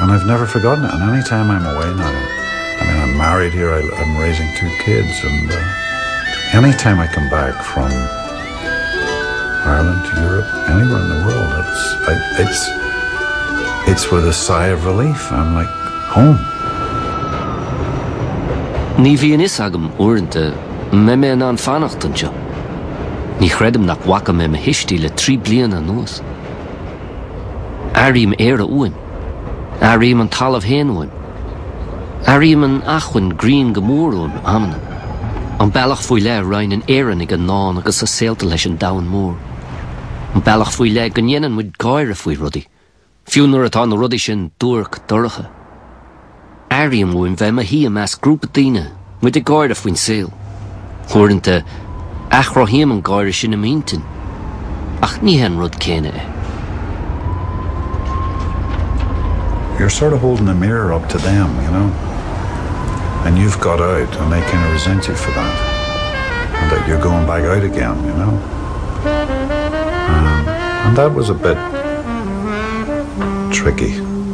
And I've never forgotten it and any time I'm away now, I mean I'm married here, I I'm raising two kids and uh any time I come back from Ireland to Europe, anywhere in the world, it's I it's it's with a sigh of relief, I'm like home. Ní bhíonn fhios agam uaireanta mbeidh mé in ann fanacht anseo. Ní chreidim nach bhfaca mé mo thuistí le trí bliana anuas. Airím Éire uaim. Airím an talamh féin uaim. Airím an acmhainn grinn go mór uaim, amanna. An bealach faoi leith a roinneann Éireannaigh a ndán agus a saolta leis an domhan mór. An bealach faoi leith go ndéanann muid gáire faoi rudaí, fiú nuair atá na rudaí sin duairc dorcha. Airím uaim bheith i mo shuí i measc grúpa daoine, muid ag gáire faoin saol. Uaireanta, athchruthaím an gáire sin i m'intinn, ach ní hé an rud céanna é. You're sort of holding a mirror up to them, you know? And you've got out and they kind of resent you for that. And that you're going back out again, you know? Um, and that was a bit tricky.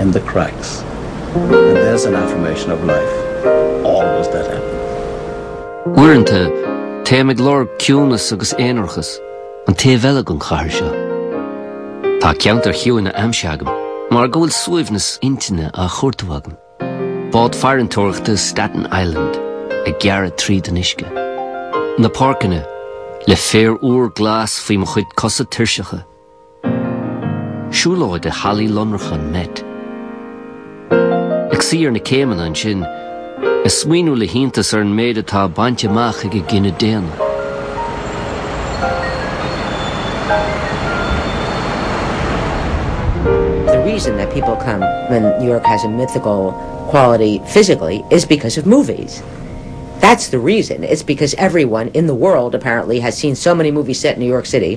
in the cracks and there's an affirmation of life always that happens. Uaireanta, téim ag lorg ciúnas agus aonarachas, an taobh eile den chathair seo. Tá ceantair chiúine aimsithe agam, mar go bhfuil suaimhneas intinne á chuartú agam. Bád farantóireachta Staten Island ag gearradh tríd an uisce. Na páirceanna, le féar úr glas faoi mo chuid cosa tuirseacha. Siúlóid i Hallaí Lonracha an Met. Ag suí ar na céimeanna ansin, ag smaoineamh le hiontas ar an méid atá bainte amach ag an gcine daonna. The reason that people come when New York has a mythical quality physically is because of movies. That's the reason. It's because everyone in the world apparently has seen so many movies set in New York City